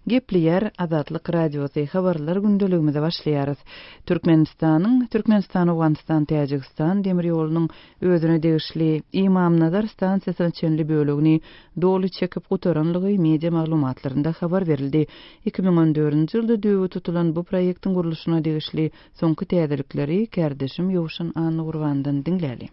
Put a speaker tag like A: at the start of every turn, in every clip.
A: Gepleýär Azatlyk Radiosy, Habarlar gündeligimize başlaýarys. Türkmenistanyň, Türkmenistan-Owganystan-Täjigistan demir ýolunyň özüne degişli Ymamnazar stansiýasyna çenli bölegini doly çekip gutaranlygy media maglumatlarynda habar berildi. Iki müň on dördünji ýylda düýbi tutulan bu proýektiň gurluşyna degişli soňky täzelikleri kärdeşim Ýowşan Annagurbandan diňläli.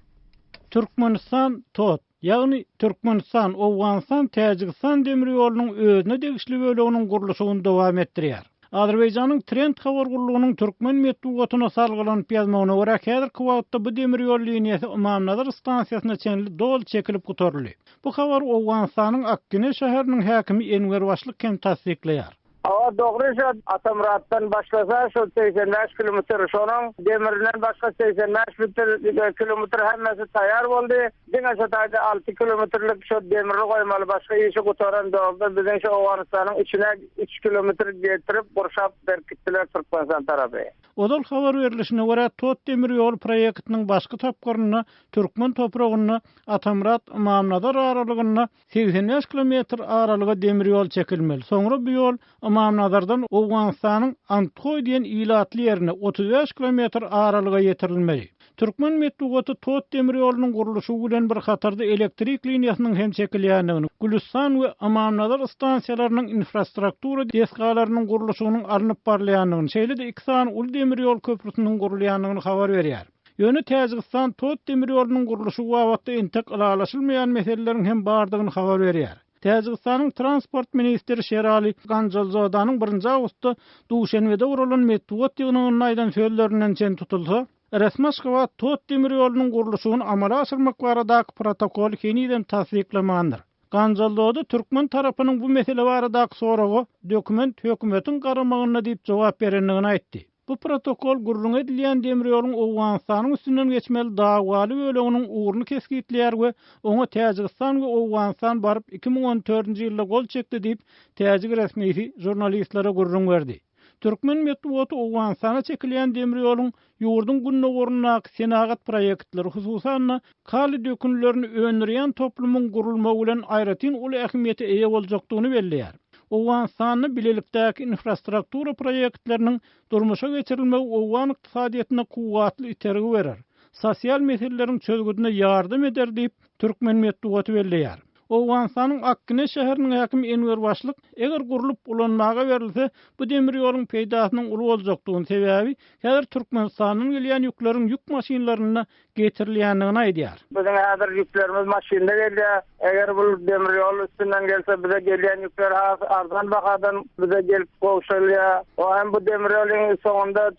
A: Türkmenistan,
B: TOTT, Ýagny, Türkmenistan, Owganystan, Täjigistan demir ýolunyň özüne degişli böleginiň gurluşygyny dowam etdirýär. Azerbaýjanyň Trend habar gullugynyň türkmen metbugatyna salgylanyp ýazmagyna görä, häzirki wagtda bu demir ýol liniýasy Ymamnazar stansiýasyna çenli doly çekilip gutaryldy. Bu habary Owganystanyň Akgine şäheriniň häkimi Enwer Başlyk hem tassyklaýar. Hawa dogry
C: şo Atamyratdan başlasa şo segsen bäş kilometr şonuň demirinden başga segsen bäş kilometr hemmesi taýar boldy diňe şo taýda alty kilometrlik şo demiri goýmaly başga işi gutaran dogda biziň şo Owganystanyň içine üç kilometr getirip gurşap berkitdiler Türkmenistan tarapy. Ozal habar
B: berlişine görä Tot demir ýol proýektiniň başky tapgyrynda türkmen topragynda Atamyrat Ymamnazar aralygynda Segsen bäş kilometr aralyga demir ýol çekilmeli. Soňra bu ýol Ymamnazardan Owganystanyň Anthoý diýen ilatly ýerine otuz bäş kilometr aralyga ýetirilmeli. Türkmen metbugaty Tot demir ýolunyň gurluşygy bilen bir hatarda elektrik liniýasynyň hem çekilýändigini, Gülüstan we Ymamnazar stansiýalarynyň infrastruktura desgalarynyň gurluşygynyň alnyp barylýandygyny, şeýle-de iki sany uly demir ýol köprüsiniň gurulýandygyny habar berýär. Ýöne Täjigistan Tot demir ýolunyň gurluşygy babatda entek ylalaşylmaýan meseleleriň hem bardygyny habar berýär. Täjigistanyň transport ministri Şerali Ganjalzodanyň birinji awgustda Duşenbede guralan metbugat ýygnagynda aýdan sözlerinden çen tutulsa, Resmi-Aşgabat Tot demir ýolunyň gurluşygyny amala aşyrmak baradaky protokoly henizem tassyklamandyr. Ganjalzoda türkmen tarapynyň bu mesele baradaky soraga dokument hökümetiň garamagynda diýip jogap berendigini aýtdy. Bu protokol gürrüňi edilýän demir ýoluň Owganystanyň üstünden geçmeli dawaly böleginiň ugruny kesgitleýär we oňa Täjigistan we Owganystan baryp iki müň on dördünji ýylda gol çekdi diýip, täjik resmisi žurnalistlere gürrüň berdi. Türkmen metbugaty Owganystana çekilýän demir ýoluň ýurduň gündogaryndaky senagat proýektleri, hususan-da, kaly dökünlerini öndürýän toplumyň gurulmagy bilen aýratyn uly ähmiýete eýe boljakdygyny belleýär. Owganystanda bilelikdäki infrastruktura proýektleriniň durmuşa geçirilmegi owgan ykdysadyýetine kuwwatly itergi berer, sosial meseleleriň çözgüdine ýardam eder diýip, türkmen metbugaty belleýär. Owganystanyň Akgine şäheriniň häkimi Enwer Başlyk, Eger gurlup, ulanmaga berilse, bu demir ýoluň peýdasynyň uly boljakdygyny, sebäbi häzir Türkmenistandan gelýän ýükleriň ýük maşynlarynda getirilýändigini aýdýar. Biziň häzir ýüklerimiz
C: maşynda gelýär. Eger bu demir ýol üstünden gelse, bize gelýän ýükler has arzan bahadan bize gelip gowşalýar. O hem bu demir ýolyň soňunda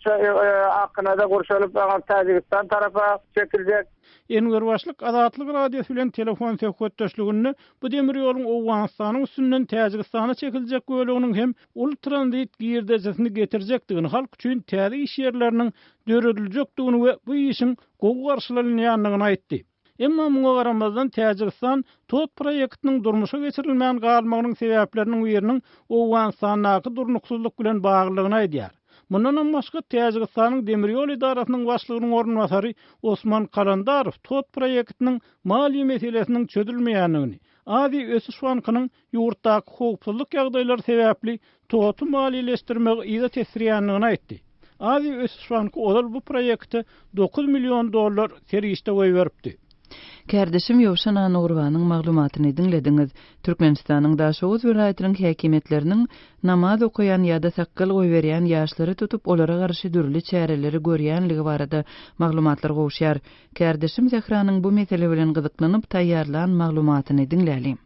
C: Akgine-de gurşalyp, aňyr Täjigistan tarapa çekiljek. Enwer Başlyk
B: Azatlyk Radiosy bilen telefon söhbetdeşliginde bu demir ýoluň Owganystanyň üstünden Täjigistana çekiljek böleginiň hem uly tranzit girdejisini getirjekdigini, halk üçin täze iş ýerleriniň dörediljekdigini we bu işiň gowy garşylanylýandygyny aýtdy. Emma muňa garamazdan Täjigistan TOTT proýektiniň durmuşa geçirilmän galmagynyň sebäpleriniň biriniň Owganystandaky durnuksyzlyk bilen baglydygyny aýdýar. Mundanam başga, Täjigistanyň demir ýol edarasynyň başlygynyň orunbasary Osman Kalandarow TOTT proýektiniň maliýe meselesiniň çözülmeýändigini, Aziýa ösüş bankynyň ýurtdaky howpsuzlyk ýagdaýlary sebäpli TOTT-y maliýeleşdirmegi yza tesdirýändigini aýtdy. Aziýa ösüş banky ozal bu proýekte dokuz million dollar serişde goýberipdi. Kärdeşim
A: Ýowşan Annagurbanyň maglumatyny diňlediňiz. Türkmenistanyň Daşoguz welaýatynyň häkimiýetleriniň namaz okaýan ýa-da sakgal goýberýän ýaşlary tutup, olara garşy dürli çäreleri görýänligi barada maglumatlar gowuşýar. Kärdeşim Zehranyň bu mesele bilen gyzyklanyp taýýarlan maglumatyny diňläliň.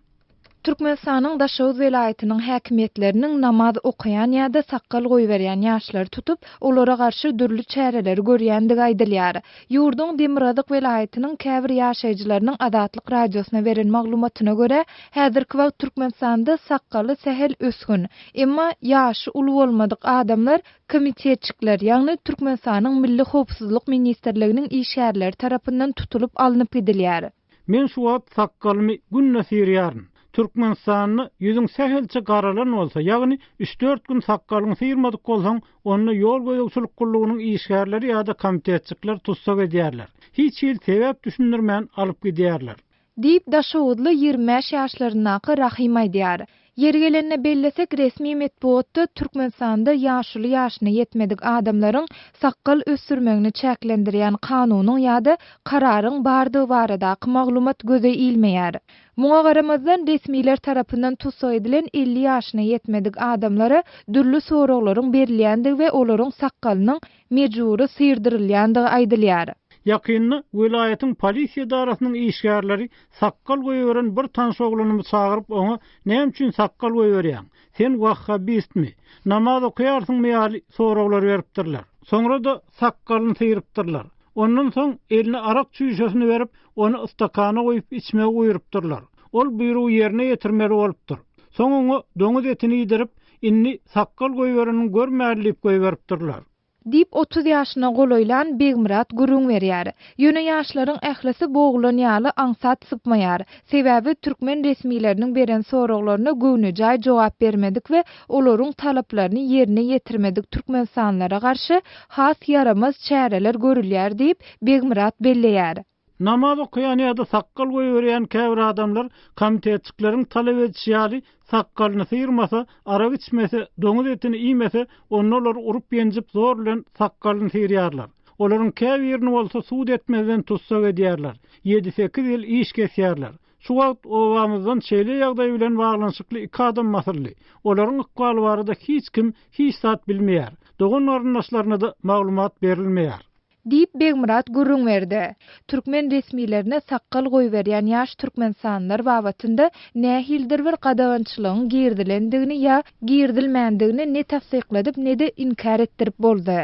A: Türkmenistanyň
D: Daşoguz welaýatynyň häkimiýetleriniň namaz okaýan ýa-da sakgal goýberýän ýaşlary tutup, olara garşy dürli çäreleri görýändigi aýdylýar. Ýurduň demirgazyk welaýatynyň käbir ýaşaýjylarynyň Azatlyk Radiosyna beren maglumatyna görä, häzirki wagt Türkmenistanda sakgaly sähel ösgün, emma ýaşy uly bolmadyk adamlar komitetçikler, ýagny Türkmenistanyň Milli howpsuzlyk ministrliginiň işgärleri tarapyndan tutulyp alnyp gidilýär. Men şu wagt
B: sakgalymy günde syrýaryn. Türkmenistanda ýüzüň sähelçe garalan bolsa, ýagny üç-dört gün sakgalyňy syrmadyk bolsaň, onda ýol gözegçilik gullugynyň işgärleri ýa-da komitetçikler tussag edýärler. Hiç hili sebäp düşündirmän alyp
D: gidýärler. Diýip, daşoguzly
B: ýigrimi bäş
D: ýaşlaryndaky Rahym aýdýar. Ýeri gelende bellesek, resmi metbugatda Türkmenistanda ýaşuly ýaşyna ýetmedik adamlaryň sakgal ösdürmegini çäklendirýän kanunyň ýa-da kararyň bardygy baradaky maglumat göze ilmeýär. Muňa garamazdan, resmiler tarapyndan tussag edilen elli ýaşyna ýetmedik adamlara dürli soraglaryň berilýändigi we olaryň sakgalynyň mejbury syrdyrylýandygy aýdylýar. Ýakynda
B: welaýatyň polisiýa edarasynyň işgärleri sakgal goýberen bir tanyş oglanymy çagyryp, oňa Näme üçin sakgal goýberýäň? Sen wahhabistmi? Namaz okaýarsyňmy ýaly soraglar beripdirler. Soňra-da sakgalyny syrypdyrlar. Ondan soň eline arak çüýşesini berip, ony stakana guýup içmegi buýrupdyrlar. Ol buýrugy ýerine ýetirmeli bolupdyr. Soň oňa doňuz etini iýdirip, Indi sakgal goýberenin görmäli diýip goýberipdirler. Diýip, otuz
D: ýaşyna golaýlan Begmyrat gürrüň berýär. Ýöne ýaşlaryň ählisi bogulan ýaly aňsat sypmaýar. Sebäbi türkmen resmileriniň beren soraglaryna göwnejaý jogap bermedik we olaryň talaplaryny ýerine ýetirmedik türkmenistanlylara garşy has ýaramaz çäreler görülýär diýip, Begmyrat belleýär. Namaz okaýan
B: ýa-da sakgal goýberýän käbir adamlar komitetçikleriň talap edişi ýaly, sakgalyny syrmasa, arak içmese, doňuz etini iýmese, onda olary urup-ýenjip zor bilen sakgalyny syrýarlar. Olaryň käbirini bolsa sud etmezden tussag edýärler, ýedi-sekiz ýyl iş kesýärler. Şu wagt obamyzdan şeýle ýagdaý bilen baglanyşykly iki adam basyldy. Olaryň ykbaly barada hiç kim hiç zat bilmeýär. Dogan-garyndaşlaryna-da maglumat berilmeýär. Diýip, Begmyrat
D: gürrüň berdi. Türkmen resmilerine sakgal goýberýän ýaş türkmenistanlylar babatynda nähilidir bir gadagançylygyň girizilendigini ýa girizilmändigini ne tassykladyp, ne-de inkär etdirip boldy.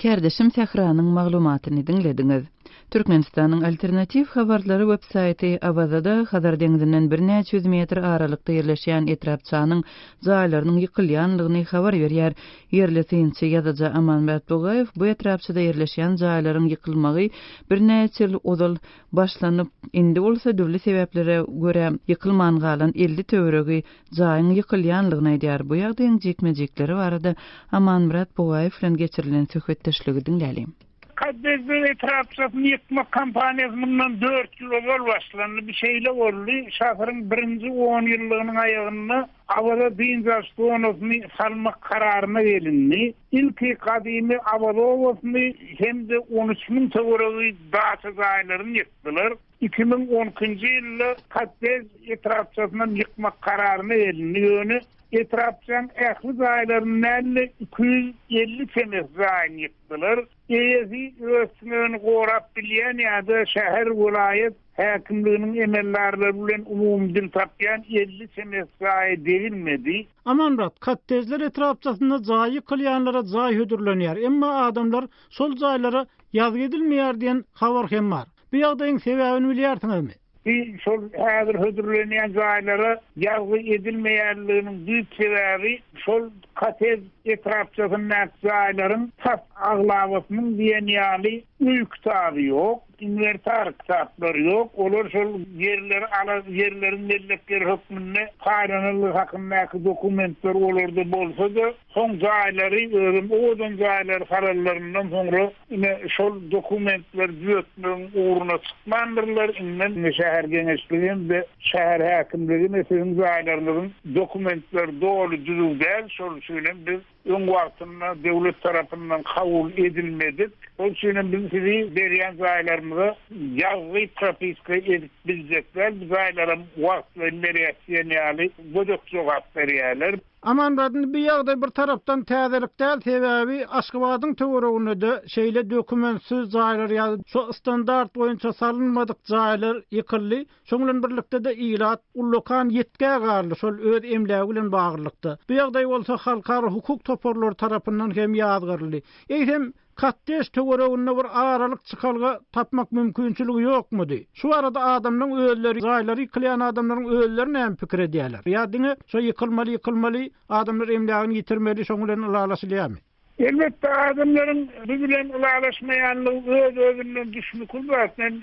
D: Kärdeşim
A: Sähranyň maglumatyny diňlediňiz. Türkmenistanyň Alternatiw habarlary websaýty Awazada Hazar deňzinden birnäçe ýüz metr aralykda ýerleşýän etrapçanyň jaýlarynyň ýykylýanlygyny habar berýär. Ýerli synçy, ýazyjy Amanbert Bugaýew bu etrapçada ýerleşýän jaýlaryň ýykylmagy birnäçe ýyl ozal başlanyp, indi bolsa dürli sebäplere görä ýykylman galan elli töweregi jaýyň ýykylýandygyny aýdýar. Bu ýagdaýyň jikme-jikleri barada Amanmyrat Bugaýew bilen geçirilen söhbetdeşligi diňläliň. Kaddesbeg
E: etrapçasyny ýykmak kampaniýasy mundan dört ýyl ozal başlandy. Bu şeýle boldy, şasyryň birinji onýyllygynyň aýagynda. Awaza dynç alyş zonasyny salmak kararyna gelindi. Ilki gadymy Awaza obasyny hem-de on üç müň töweregi daça jaýlaryny ýykdylar. Iki müň on ikinji ýylda Kottej etrapçasyny hem ýykmak kararyna gelindi, ýöne etrapçaň ähli jaýlaryny däl-de, iki ýüz elli çemesi jaýyny ýykdylar. Eýesi öz tünegini gorap bilýän ýa-da şäher, welaýat, häkimliginiň emeldarlary bilen umumy dil tapýan elli çemesi jaýa degilmedi. Amanmyrat,
B: Kottejler etrapçasynda jaý ýykylýanlara jaý hödürlenýär, emma adamlar şol jaýlara ýazgy edilmeýär diýen habar hem bar. Bu ýagdaýyň sebäbini bilýärsiňizmi? Bi şol
E: häzir hödürlenýän jaýlara ýazgy edilmeýänliginiň düýp sebäbi şol kottej etrapçasyndaky jaýlaryň tas aglabasynyň diýen ýaly öý kitaby ýok. Inwertar kitaplar ýok, olar şol ýerleri ala ýerleriň mellekleri hökmünde paýlanandygy hakyndaky dokumentler olarda bolsa-da, soň jaýlary, özem owadan jaýlary salanlaryndan soňra, ine, şol dokumentleri düzetmegiň ugruna çykmandyrlar, iňňän indi şäher geňeşligi hem-de şäher häkimligi indi siziň jaýlaryňyzyň dokumentleri doly düzüw däl, şol üçin hem biz, öň wagtynda döwlet tarapyndan kabul edilmedik, şol üçin hem biz sizi berýän jaýlarymyza ýazgy propiska edip biljekler, bu jaýlaram wagtlaýyn berýäs diýen ýaly gödek jogap berýärler. Amanradny bu
B: ýagdaý bir tarapdan täzelik däl, sebäbi Aşgabadyň töwereginde-de şeýle dokumentsiz jaýlar ýa-da şo standart boýunça salynmadyk jaýlar ýykyldy. Şoň bilen birlikde-de ilat ullakan ýitgä garly şol öz emlägi bilen baglylykda. Bu ýagdaý bolsa halkara hukuk toparlary tarapyndan hem ýazgaryldy. Eýsem, kottej töwereginde bir aralyk çykalga tapmak mümkinçiligi ýokmudy? Şu barada adamlaryň özleri jaýlary ýykylýan adamlaryň özleri näme pikir edýärler? Ýa diňe şo ýykylmaly ýykylmaly, adamlar emlägini ýitirmeli şoň bilen ylalaşylýarmy? Elbetde,
E: adamlaryň biz bilen ylalaşmaýanlygy öz-özünden düşmükül zat. Men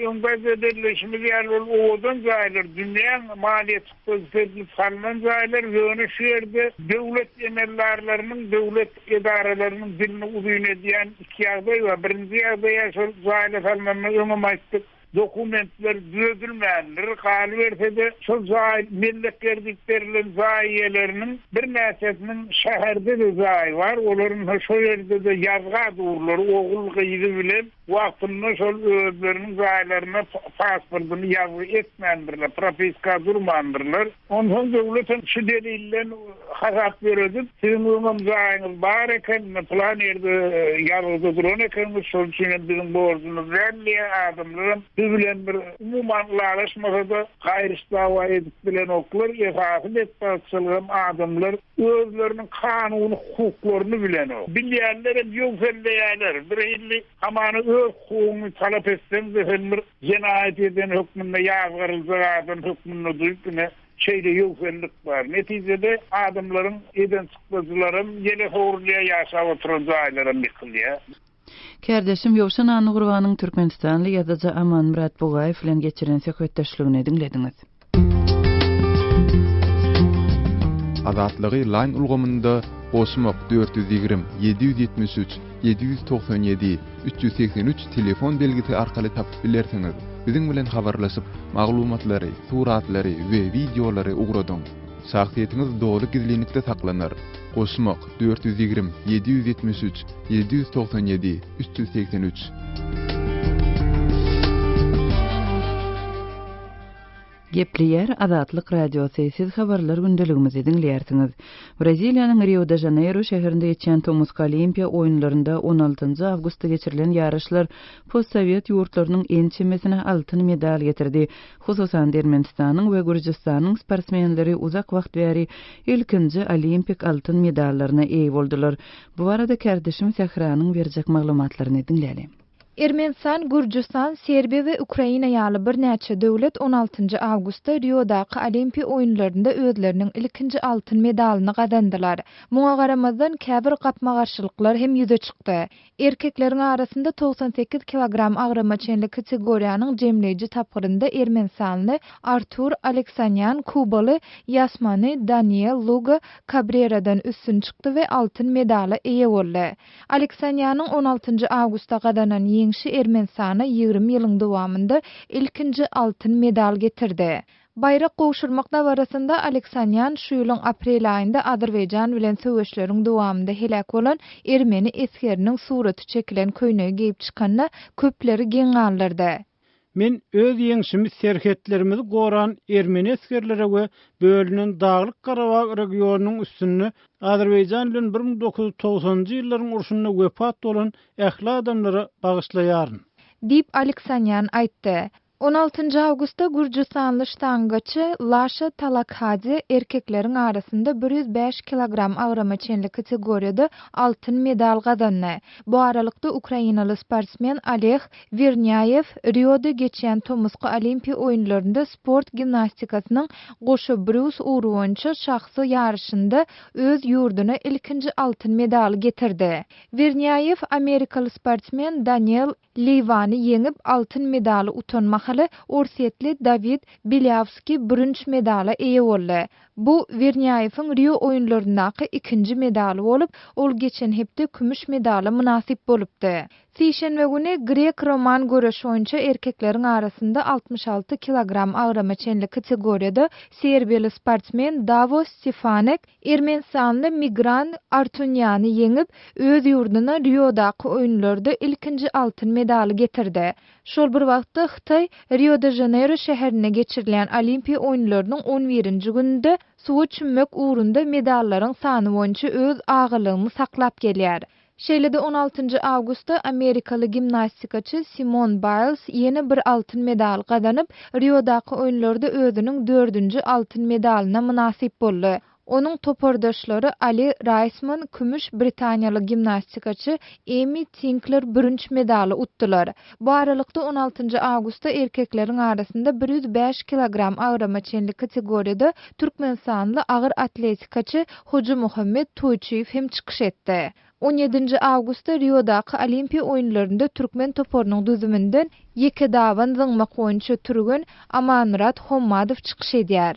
E: öň gaýda belleýşimiz ýaly, ol owadan jaýlar, dünýäň maliýe çykdajy seredilip salnan jaýlar, ýöne şu ýerde döwlet emeldarlarynyň, döwlet edaralarynyň dilini uzyn edýän iki ýagdaý bar. Birinji ýagdaý ýa şol jaýlar salnandan öňem aýtdyk, Dokumentler düzedilmändir, galyberse-de, şol jaý mellekler diýip berlen jaý eýeleriniň birnäçesiniň şäherde-de jaýy bar, olaryň-ha şo ýerde-de ýazga durlary ogul-gyzy bilen wagtynda şol özleriniň jaýlaryna pasportyny ýazgy etmändirler, propiska durmandyrlar. Onsoň döwletem şu delilden hasap ýöredip, siziň öňem jaýyňyz bar eken, pylan ýerde ýazgyda duran ekeniňiz, şol üçin hem biziň borjumyz däl diýýär, adamlaram siz bilen bir umuman ylalaşmasa-da, gaýryş-dawa edip bilenoklar, esasy betbagtçylygam adamlar özleriniň kanuny hukuklaryny bilenok. Bilýänlerem ýöwselleýärler, birhili hamana öz hukugyňy talap etseň-de, sen bir Jenaýat eden hökmünde ýazgaryljak adam hökmünde duýup ine şeýle ýöwsellik bar. Netijede adamlaryň eden çykdajylaram ýele sowrulýar, ýaşap oturan jaýlaram ýykylýar. Kärdeşim
A: Ýowşan Annagurbanyň türkmenistanly ýazyjy Amanmyrat Bugaýew bilen geçiren söhbetdeşligini diňlediňiz.
F: Azatlygy Line ulgamynda goşmak dört ýüz ýigrimi, ýedi ýüz ýetmiş üç, ýedi ýüz togsan ýedi, üç ýüz segsen üç telefon belgisi arkaly tapyp bilersiňiz. Biziň bilen habarlaşyp, maglumatlary, suratlary we wideolary ugradyň. Şahsyýetiňiz doly gizlinlikde saklanar. Goşmak dört ýüz ýigrimi, ýedi ýüz ýetmiş üç, ýedi ýüz togsan ýedi, üç ýüz segsen üç.
A: Gepleýär Azatlyk Radiosy, Siz habarlar gündeligimizi diňleýärsiňiz. Braziliýanyň Rio-de-Žaneýro şäherinde geçýän tomusky Olimpiýa oýunlarynda on altynjy awgustda geçirilen ýaryşlar postsowet ýurtlarynyň ençemesine altyn medal getirdi. Hususan-da Ermenistanyň we Gürjüstanyň sportsmenleri uzak wagt bäri ilkinji olimpik altyn medallaryna eýe boldular. Bu barada kärdeşim Sähranyň berjek maglumatlaryny diňläliň. Ermenistan,
D: Gürjüstan, Serbiýa we Ukraina ýaly birnäçe döwlet on altynjy awgustda Riodaky Olimpiýa oýunlarynda özleriniň ilkinji altyn medalyny gazandylar. Muňa garamazdan, käbir gapma-garşylyklar hem ýüze çykdy. Erkekleriň arasynda togsan sekiz kilogram agrama çenli kategoriýanyň jemleýji tapgyrynda ermenistanly Artur Aleksanýan kubaly Ýasmany Daniel Luga Kabreradan üstün çykdy we altyn medala eýe boldy. Aleksanýanyň on altynjy awgustda gazanan ýeňşi Ermenistana ýigrimi ýylyň dowamynda ilkinji altyn medal getirdi. Baýrak gowşurmak dabarasynda Aleksanýan şu ýylyň aprel aýynda Azerbaýjan bilen söweşleriň dowamynda heläk bolan ermeni esgeriniň suraty çekilen köýnegi geýip çykanda köpleri geň galdyrdy. Men
B: öz ýeňşimi serhetlerimizi goran ermeni esgerlere we bölünen Daglyk Garabag regionynyň üstünde Azerbaýjan bilen bir müň dokuz ýüz togsanynjy ýyllaryň urşunda wepat bolan ähli adamlara bagyşlaýaryn. Diýip,
D: Aleksanýan aýtdy. On altynjy awgustda gürjüstanly ştangaçy Laşa Talakhadze erkekleriň arasynda bir ýüz bäş kilogram agrama çenli kategoriýada altyn medal gazandy. Bu aralykda, ukrainaly sportsmen Oleg Wernýaýew Rioda geçýän tomusky Olimpiýa oýunlarynda sport gimnastikasynyň goşa brus ugry boýunça şahsy ýaryşynda öz ýurduna ilkinji altyn medaly getirdi. Wernýaýew amerikaly sportsmen Daniel Liwany ýeňip, altyn medaly utan mahaly orsýetli Dawid Belýawskiý bürünç medala eýe boldy. Bu Wernýaýewiň Rio oýunlaryndaky ikinji medaly bolup, ol geçen hepde kümüş medala mynasyp bolupdy. Sişenbe güni grek-roman göreşi boýunça erkekleriň arasynda altmyş alty kilogram agrama çenli kategoriýada serbiýaly sportsmen Dawos Stefanek, Ermenistanly Migran Artunýany ýeňip, öz ýurduna Riodaky oýunlarda ilkinji altyn medaly getirdi. Şol bir wagtda, Hytaý Rio-de-Žaneýro şäherinde geçirilýän Olimpiýa oýunlarynyň on birinji gününde suwa çümmek ugrunda medallaryň sany boýunça öz agalagyny saklap gelýär. Şeýle-de on altynjy awgustda amerikaly gimnastikaçy Simon Baýls ýene bir altyn medal gazanyp, Riodaky oýunlarda özüniň dördünji altyn medalyna mynasyp boldy. Onuň topardaşlary Ali Raýsman kümüş, britaniýaly gimnastikaçy Emmi Tinkler bürünç medaly utdular. Bu aralykda, on altynjy awgustda erkekleriň arasynda bir ýüz bäş kilogram agrama çenli kategoriýada türkmenistanly agyr atletikaçy Hojamuhammet Toýçyýew hem çykyş etdi. On ýedinji awgustda Riodaky Olimpiýa oýunlarynda türkmen toparynyň düzüminden ýeke daban zyňmak boýunça türgen Amanmyrat Hommadow çykyş edýär.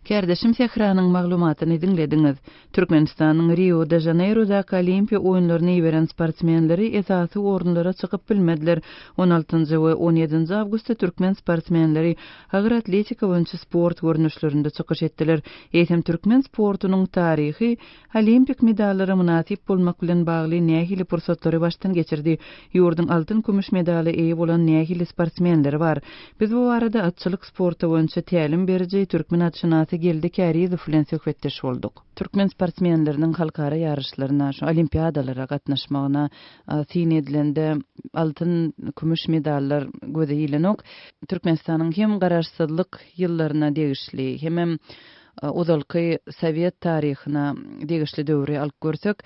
A: Kärdeşim Sähranyň maglumatyny diňlediňiz. Türkmenistanyň Rio-de-Žaneýrodaky Olimpiýa oýunlaryna iberen sportsmenleri esasy orunlara çykyp bilmediler. On altynjy we on ýedinji awgustda türkmen sportsmenleri agyr atletika boýunça sport görnüşlerinde çykyş etdiler. Eýsem, türkmen sportunyň taryhy Olimpik medallara mynasyp bolmak bilen bagly nähili pursatlary başdan geçirdi? Ýurduň altyn-kümüş medala eýe bolan nähili sportsmenleri bar? Biz bu barada atçylyk sporty boýunça tälim beriji, türkmen atşynasy Geldi Kärizow bilen söhbetdeş bolduk. Türkmen sportsmenleriniň halkara ýaryşlaryna, şu olimpiadalara gatnaşmagyna syn edilende, altyn, kümüş medallar göze ilenok. Türkmenistanyň hem garaşsyzlyk ýyllaryna degişli, hemem ozalky sowet taryhyna degişli döwri alyp görsek,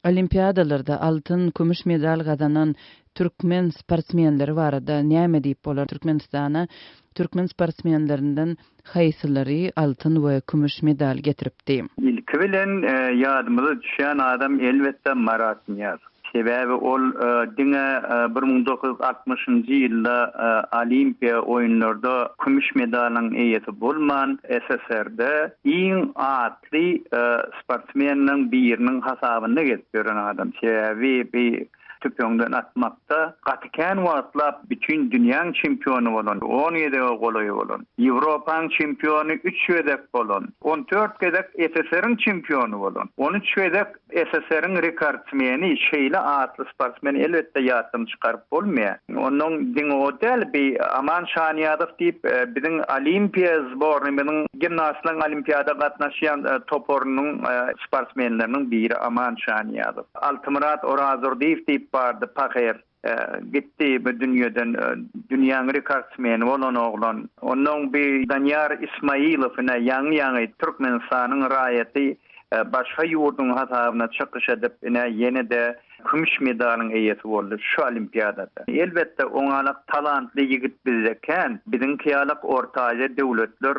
A: olimpiadalarda altyn, kümüş medal gazanan Türkmen sportsmenleri barada näme diýip bolar? Türkmenistana türkmen sportsmenlerinden haýsylary altyn we kümüş medal getiripdi? Ilki bilen
G: ýadymyza düşýän adam elbetde Marat Nyýazow. Sebäbi ol diňe bir müň dokuz ýüz altmyşynjy ýylda Olimpiýa oýunlarda kümüş medalyň eýesi bolman, SSR-de iň atly sportsmenleriň biriniň hasabynda gezip ýören adam. Sebäbi bi Tüpeňden atmakda gaty kän wagtlap bütin dünýäň çempiony bolan, on gezege golaý bolan, Ýewropaň çempiony üç gezek bolan, on dört gezek SSR-iň çempiony bolan, on üç gezek SSR-iň rekordsmeni şeýle atly sportsmeni elbetde ýatdan çykaryp bolmaýar. Onnoň diňe o däl, bi Aman Şanyýazow diýip, biziň Olimpiýa zbornymyzyň gimnastlaryň olimpiýada gatnaşýan toparynyň sportsmenleriniň biri Aman Şanyýazow. Altymyrat Orazdurdyýew diýip bardy pahyr. Gitdi bu dünýeden. Dünýäň rekordsmeni bolan oglan. Onnoň bi Danyýar Ismaýylow ine ýaňy-ýaňy Türkmenistanyň raýaty başga ýurduň hasabyna çykyş edip ine ýene-de kümüş medalyň eýesi boldy şu olimpiadada. Elbetde oňalak talantly ýigit bizde kän. Biziňki ýalak Orta Aziýa döwletler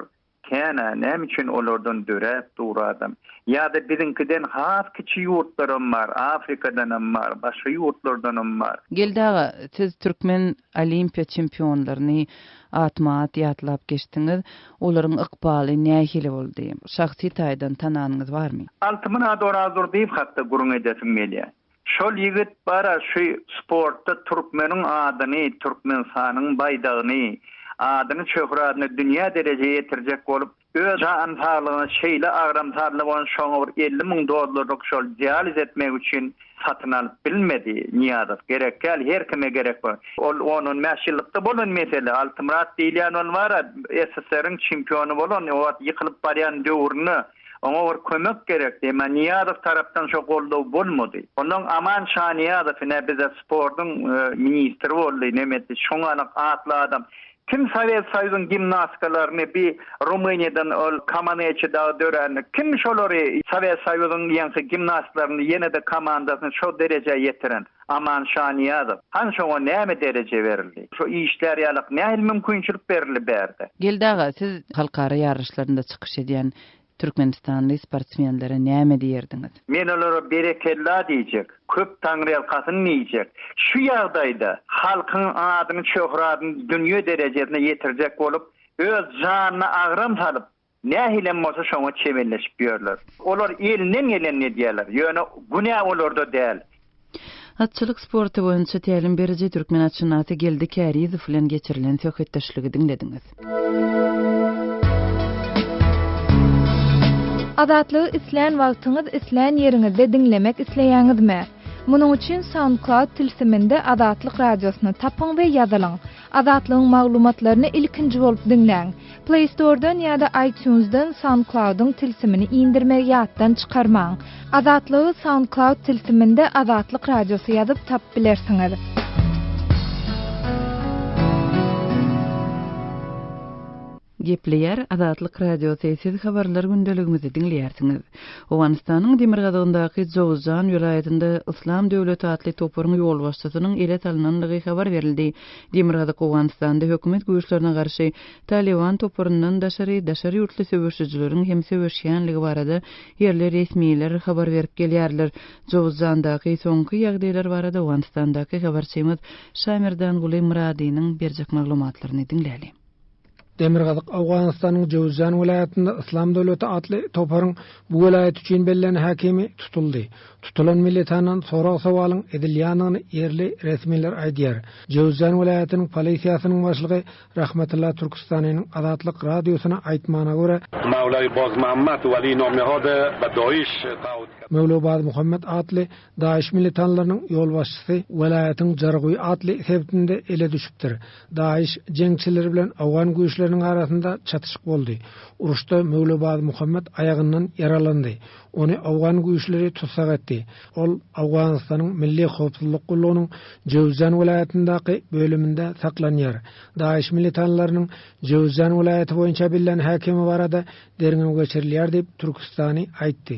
G: Kän-ä, näme üçin olardan döräp dur adam? Ýa-da biziňkiden has kiçi ýurtlaram bar, Afrikadanam bar, başga ýurtlardanam bar. Geldi aga, siz
A: türkmen Olimpiýa çempionlaryny atma-at ýatlap geçdiňiz. Olaryň ykbaly nähili boldy? Şahsy taýdan tananyňyz barmy? Altymyrat Orazdurdyýew
G: hakda gürrüň edesim gelýär. Şol ýigit bara şu sportda türkmeniň adyny, Türkmenistanyň baýdagyny, adyny şöhradyny dünýä derejä ýetirjek bolup, öz jan saglygyny şeýle agramsarly bolan şoňa bir elli müň dollarlyk şol dializ etmek üçin satyn alyp bilmedi, Nyýazow, gerekgäl her kime gerek bor. Ol on on bäş ýyllykda bolan mesele, Altymyrat diýilýän ol bara SSR-iň çempiony bolan o wagt ýykylyp barýan döwründe, Oňa bir kömek gerekdi, emma Nyýazow tarapdan şo goldaw bolmady. Ondan Aman Şanyýazow ine bize sportuň ministri boldy, nemetik, şoňalak atly adam. Kim Sowet Soýuzyň gimnastkalaryny bi Rumyniýadan ol Kamaneçi dagy dörände, kim şolary Sowet Soýuzyň ýeňki gimnastlaryny ýene-de komandasyny şo derejä ýetiren? Aman Şanyýazow, Hansoňa näme dereje berildi? Şo işlär ýalyk nähili mümkinçilik berildi bärde? Geldi aga, siz
A: halkara ýaryşlarynda çykyş edýän türkmenistanly sportsmenlere näme diýerdiňiz? Men olara
G: berekella diýjek, köp taňryýalkasyn diýjek. Şu ýagdaýda halkyň adyny-şöhratyny dünýe derejesine ýetirjek bolup, öz janyna agram salyp, Nähilem bolsa şoňa çebelleşip ýörler. Olar elinden gelenini edýärler, ýöne günä olarda däl. Atçylyk
A: sporty boýunça tälim beriji türkmen atşynasy Geldi Kärizow bilen geçirilen söhbetdeşligi diňlediňiz.
D: Azatlygy islän wagtyňyz islän ýeriňizde diňlemek isleýäňizmi? Munuň üçin SoundCloud tilsiminde Azatlyk Radiosyny tapyň we ýazylyň. Azatlygyň maglumatlaryny ilkinji bolup diňläň! Play Store-dan ýa-da iTunes-dan SoundCloud-yň tilsimini indirmegi ýatdan çykarmaň! Azatlygy SoundCloud tilsiminde Azatlyk Radiosy ýazyp tapyp bilersiňiz.
A: Gepleýär Azatlyk Radiosy, Siz habarlar gündeligimizi diňleýärsiňiz. Owganystanyň demirgazygyndaky Jowuzjan welaýatynda Yslam döwleti atly toparyň ýolbaşçysynyň ele salnandygy habar berildi. Demirgazyk Owganystanda hökümet güýçlerine garşy Talyban toparyndan daşary, daşary ýurtly söweşijileriň hem söweşýänligi barada ýerli resmiler habar berip gelýärler. Jowuzjandaky soňky ýagdaýlar barada Owganystandaky habarçymyz Şamerdanguly Myradynyň berjek maglumatlaryny diňläliň. Demirgazyk
H: Owganystanyň Jöwzjan welaýatynda Yslam döwleti atly toparyň bu welaýat üçin bellän häkimi tutuldy. Tutulan militandan sorag-sowalyň edilýändigini ýerli resmiler aýdýar. Jöwzjan welaýatynyň polisiýasynyň başlygy Rahmatylla Türküstaniniň Azatlyk Radiosyna aýtmagyna görä,
I: Möwla
H: Bazmuhammet atly DAIŞ militanlarynyň ýolbaşçysy welaýatyň Jarguý atly sebitinde ele düşüpdir. DAIŞ jeňçileri bilen owgan güýçleriniň arasynda çatyşyk boldy. Uruşda Möwlebaz Muhammet aýagyndan ýaralandy. Ony owgan güýçleri tussag etdi. Ol Owganystanyň Milli howpsuzlyk gullugynyň Jöwzjan welaýatyndaky bölüminde saklanýar. DAIŞ militanlarynyň Jöwzjan welaýaty boýunça bellän häkimi barada derňew geçirilýär diýip, türkistany aýtdy.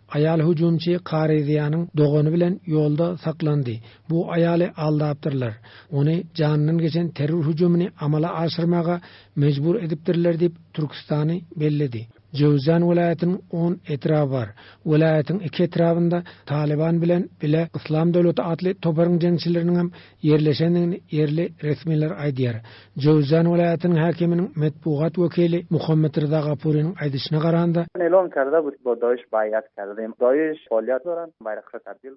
H: Aýal hüjümçi Karyziýanyň dogany bilen ýolda saklandy. Bu aýaly aldapdyrlar. Ony janyndan geçen terror hüjümini amala aşyrmaga mejbur edipdirler diýip, Türkistany belledi. Jöwzjan welaýatynyň on etraby bar. Welaýatyň iki etrabynda Talyban bilen bile Yslam döwleti atly toparyň jeňçileriniňem ýerleşendigini ýerli resmiler aýdýar. Jöwzjan welaýatynyň häkiminiň metbugat wekili Muhammet Ryza Gapuriniň aýdyşyna garanda,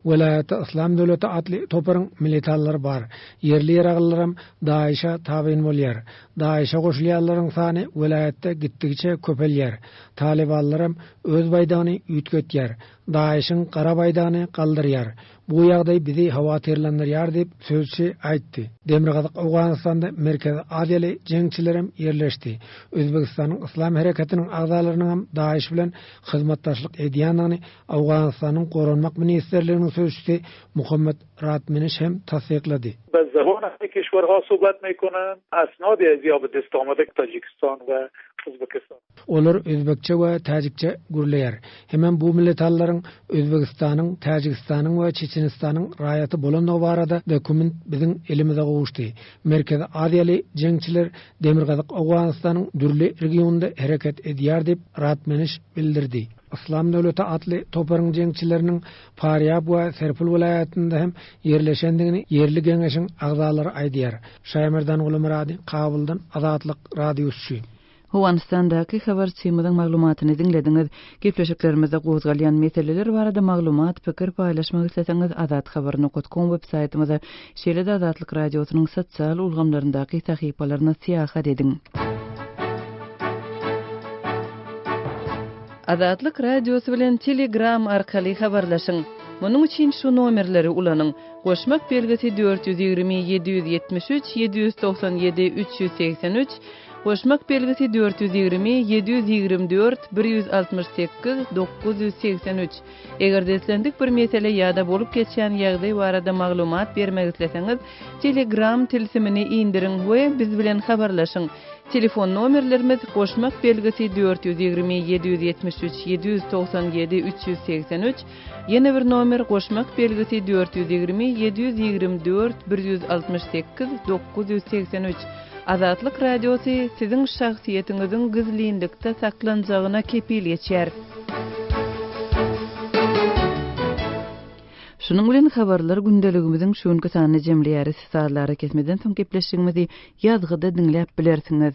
J: welaýatda Yslam
H: döwleti atly toparyň militantlar bar, ýerli ýeraglylaram DAIŞ-a tabyn bolýar. DAIŞ-a goşulýanlaryň sany welaýatda gitdigiçe köpelýär. Talybanlaram öz baýdagyny üýtgetýär. DAIŞ-iň gara baýdagyny galdyrýar. Bu ýagdaý bizi howatyrlandyrýar diýip, sözçi aýtdy. Demirgazyk Owganystanda Merkezi Aziýaly jeňçilerem ýerleşdi. Özbegistanyň Yslam hereketiniň agzalarynyňam DAIŞ bilen hyzmatdaşlyk edýändigini Owganystanyň Goranmak ministrliginiň sözçüsi Muhammad Ratmeniş hem tassyklady. Bazzahonasy
E: kişwar Hosubad meýkunu, Asnodya zýobydistoma dik Tojikiston we Uzbekistan. Olar özbekçe
H: we täjikçe gürleýär. Hemem bu milletallryň Özbegistanyň, Täjigistanyň we Çeçenistanyň raýaty bolandygy barada dokument biziň elimize gowuşdy. Merkezi Aziýaly jeňçiler Demirgazyk Owganystanyň dürli regionynda hereket edýär diýip, Ratmeniş bildirdi. Yslam döwleti atly toparyň jeňçileriniň Parýab we Serpul welaýatynda hem ýerleşendigini ýerli geňeşiň agzalary aýdýar. Şaýmerdan Gulumyrady, Kabuldan Azatlyk Radiouçuşy. Howanystandaky
A: habarçymyzyň maglumatyny diňlediňiz. Gepleşiklerimizde gozgalýan meseleler barada maglumat, pikir paýlaşmak isleseňiz azathabar nokat kom web saýtymyza, şeýle-de Azatlyk Radiosynyň sosial ulgamlaryndaky sahypalaryna syýahat ediň. Azatlyk Radiosy bilen Telegram arkaly habarlaşyň. Munuň üçin şu nomerleri ulanyň, Goşmak belgisi dört ýüz ýigrimi ýedi ýüz ýetmiş üç ýedi ýüz togsan ýedi üç ýüz segsen üç. Goşmak belgisi dört ýüz ýigrimi, ýedi ýüz ýigrimi dört, bir ýüz altmyş sekiz, dokuz ýüz segsen üç. Eger-de islendik bir mesele ýa-da bolup geçýän ýagdaý barada maglumat bermek isleseňiz, Telegram tilsimini indiriň we biz bilen habarlaşyň. Telefon nomerlerimiz, Goşmak belgisi dört ýüz ýigrimi, ýedi ýüz ýetmiş üç, ýedi ýüz togsan ýedi, üç ýüz segsen üç, Ýene bir nomer goşmak belgisi dört ýüz ýigrimi ýedi ýüz ýigrimi dört bir ýüz altmyş sekiz dokuz ýüz segsen üç Azatlyk Radiosy siziň şahsyýetiňiziň gizlinlikde saklanjagyna kepil geçýär. Şunuň bilen habarlar gündeligimiziň şu günki sanyny jemleýäris. Sazly arakesmeden soň gepleşigimizi ýazgyda diňläp bilersiňiz.